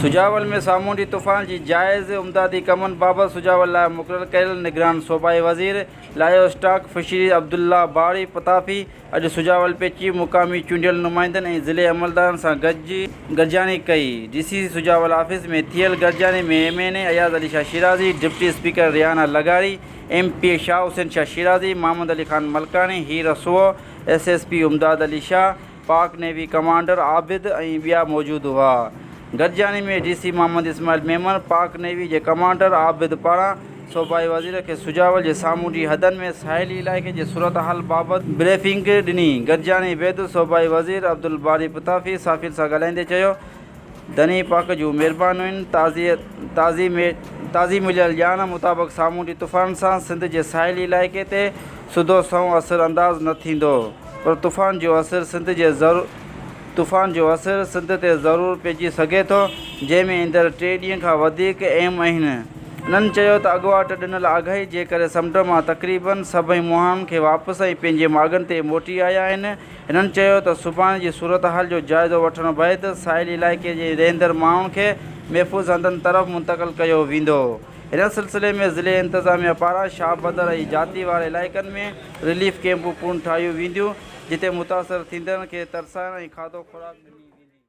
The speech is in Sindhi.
سجاول ۾ سامونڊي طوفان جي جائز امدادي ڪمن بابت سجاول لاء مقرر ڪيل نگران صوبائي وزير livestock fisheries Abdullah Bari Patafi اڄ سجاول پهچي مقامي چونڊيل نمائندن ۽ ضلعي عملدارن سان گڏجاڻي ڪئي D C C Sujawal office ۾ ٿيل گڏجاڻي ۾ M N A Ayaz Ali Shah Shirazi deputy speaker Rehana لغاري M P A Shah Hussain Shah Shirazi, Muhammad Ali Khan Malkani, هير رسوء، S S P Imdad Ali Shah, Pak navy commander Abid ۽ ٻيا موجود هئا. گڏجاڻي ۾ D C Muhammad Ismail Memon Pak navy جي ڪمانڊر عابد پاران صوبائي وزير کي سجاول جي سامونڊي حدن ۾ ساحلي علائقي جي صورتحال بابت بريفنگ ڏني. گڏجاڻي بعد صوبائي وزير عبدالباري پتافي صحافين سان ڳالهائيندي چيو ڌڻي پاڪ جون مھربانيون تعظيم تعظيم مليل ڄاڻ مطابق سامونڊي طوفان سان سنڌ جي ساحلي علائقي تي سڌو سنئون اثر انداز نه ٿيندو پر طوفان جو اثر سنڌ جي طوفان جو اثر سنڌ تي ضرور پئجي سگهي ٿو جنهن ۾ ايندڙ ٽي ڏينهن کان وڌيڪ اھم اھن انھن چيو ته اڳواٽ ڏنل آگاھي جي ڪري سمنڊ مان تقريبن سڀئي مھاڻن کي واپس ۽ پنھنجي ماڳن تي موٽي آيا آھن هنن چيو ته سڀاڻي جي صورتحال جو جائزو وٺڻ بعد ساحلي علائقي جي رهندڙ ماڻهن کي محفوظ هنڌن طرف منتقل ڪيو ويندو. هن سلسلي ۾ ضلعي انتظاميا پاران شاهه بدر ۽ جاتي واري علائقن ۾ رليف ڪئمپون پڻ ٺاهيون وينديون جتي متاثر ٿيندڙن کي ترسائڻ ۽ کاڌو خوراڪ ڏني ويندي.